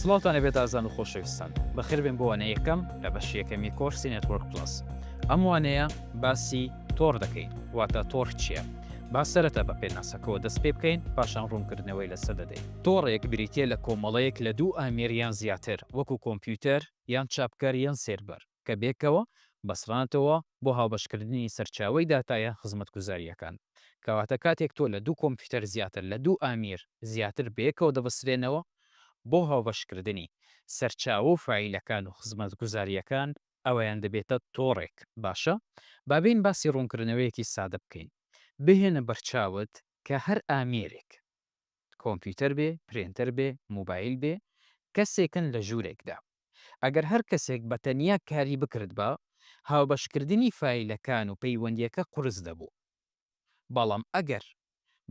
سڵاوتان لەبێت ئازان و خۆشەویستان، بەخێربێن بۆ وانەی یەکەم لە بەشی یەکەمی کۆرسی نێتوۆرک پڵەس. ئەم وانەیە باسی تۆڕ دەکەین، واتە تۆڕ چییە؟ با سەرەتا بە پێناسەکەوە دەست پێ بکەین، پاشان ڕوونکردنەوەی لەسەر دەدەین. تۆڕێک بریتییە لە کۆمەڵەیەک لە دوو ئامێر یان زیاتر، وەکو کۆمپیوتەر، یان چاپکەر، یان سێرڤەر. کە بێکەوە بەسرانەتەوە بۆ هاوبەشکردنی سەرچاوەی داتایە خزمەتگوزارییەکان. کەواتە کاتێک تۆ لە دوو کۆمپیوتەر زیاتر لە دوو ئامیر زیاتر بەیەکەوە دەبەسرێنەوە بۆ هاوبەشکردنی سەرچاوە و فایلەکان و خزمەتگوزارییەکان ئەوەیان دەبێتە تۆڕێک. باشە با بێین باسی ڕوونکردنەوەیەکی سادە بکەین. بهێنە بەرچاوت کە هەر ئامێرێک. کۆمپیوتەر بێ، پرێنتەر بێ، موبایل بێ، کەسێکن لە ژوورێکدا. ئەگەر هەر کەسێک بە تەنیا کاری بکردبا، هاوبەشکردنی فایلەکان و پەیوەندییەکە قورس دەبوو. بەڵام ئەگەر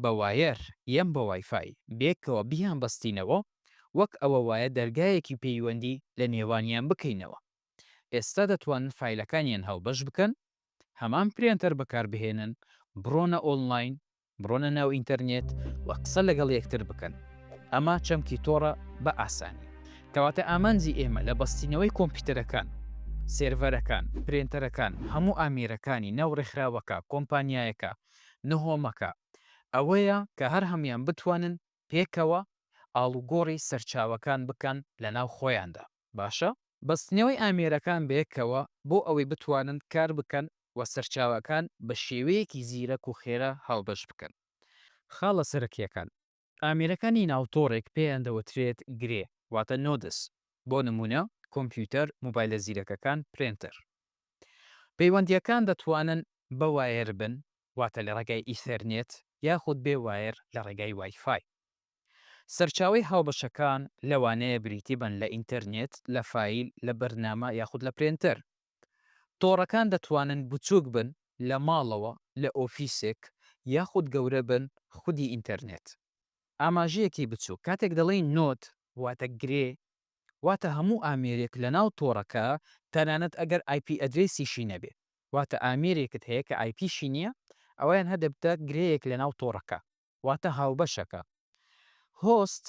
بە وایەر یان بە وایفای بێکەوە بیانبەستینەوە، وەک ئەوە وایە دەرگایەکی پەیوەندی لە نێوانیان بکەینەوە. ئێستا دەتوانن فایلەکانیان هاوبەش بکەن، هەمان پرێنتەر بەکاربهێنن، بڕۆنە ئۆنلاین بڕۆنە ناو ئینتەرنێت و قسە لەگەڵ یەکتر بکەن، ئەمە چەمکی تۆڕە بە ئاسانی. کەواتە ئامانجی ئێمە لە بەستینەوەی کۆمپیوتەرەکان، سێرڤەرەکان، پرێنتەرەکان، هەموو ئامێرەکانی ناو ڕێکخراوەکە، کۆمپانیایەکە نهۆمەکە، ئەوەیە کە هەر هەموویان بتوانن پێکەوە ئاڵوگۆڕی سەرچاوەکان بکەن لەناو خۆیاندا باشە؟ بەستنەوەی ئامێرەکان بەیەکەوە بۆ ئەوەی بتوانن کار بکەن و سەرچاوەکان بە شێوەیەکی زیرەک و خێرا هاوبەش بکەن خاڵە سەرەکیەکان. ئامێرەکانی ناو تۆڕێک پێیان دەوترێت گرێ واتە نۆدس بۆ نموونە کۆمپیوتەر، مۆبایلە زیرەکەکان، پرێنتەر. پەیوەندیەکان دەتوانن بە وایەر بن واتە لە ڕێگای ئیثەرنێت یاخود بێ وایەر لە ڕێگای وای فای. سەرچاوەی هاوبەشەکان لەوانەیە بریتی بن لە ئینتەرنێت، لە فایل، لە بەرنامە یاخود لە پرێنتەر. تۆڕەکان دەتوانن بچووک بن، لە ماڵەوە، لە ئۆفیسێک، یاخود گەورە بن، خودی ئینتەرنێت. ئاماژەیەکی بچووک، کاتێک دەڵێین نۆد واتە گرێ، واتە هەموو ئامێرێک لەناو تۆڕەکە تەنانەت ئەگەر ئایپی ئەدرێسیشی نەبێ. واتە ئامێرێکت هەیە کە ئایپیشی نییە، ئەوەیان هەدەبتە گرێیەک لەناو تۆڕەکە، واتە هاوبەشەکە. هۆست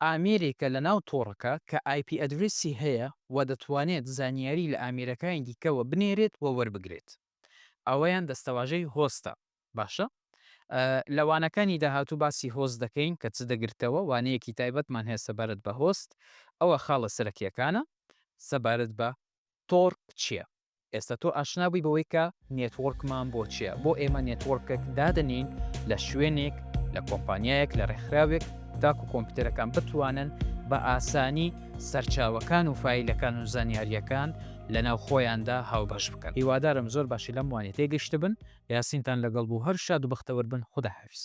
ئامێرێکە لەناو تۆڕەکە کە ئایپی ئەدرێسی هەیە و دەتوانێت زانیاری لە ئامێرەکانی دیکەوە بنێرێت و وەربگرێت. ئەوەیان دەستەواژەی هۆستە. باشە لە وانەکانی داهاتوو باسی هۆست دەکەین کە چ دەگرتەوە، وانەیەکی تایبەتمان هەیە سەبارەت بە هۆست، ئەوە خاڵە سەرەکییەکانە سەبارەت بە تۆڕ چییە. ئێستا تۆ ئاشنا بووی بەوەی کە نێتوۆرکمان بۆ چیە، بۆ ئێمە نێتوۆرکێک دادەنێین لە شوێنێک، لە کۆمپانیایەک، لە ڕێکخراوێک تاکو کۆمپیوتەرەکان بتوانن بە ئاسانی سەرچاوەکان و فایلەکان و زانیارییەکان لەناو خۆیاندا هاوبەش بکەن. هیوادارم زۆر باشی لەم وانیە تێگەشتبن. یاسینتان لەگەڵ بوو هەر شاد و بەختەوەر بن خودا حافیز.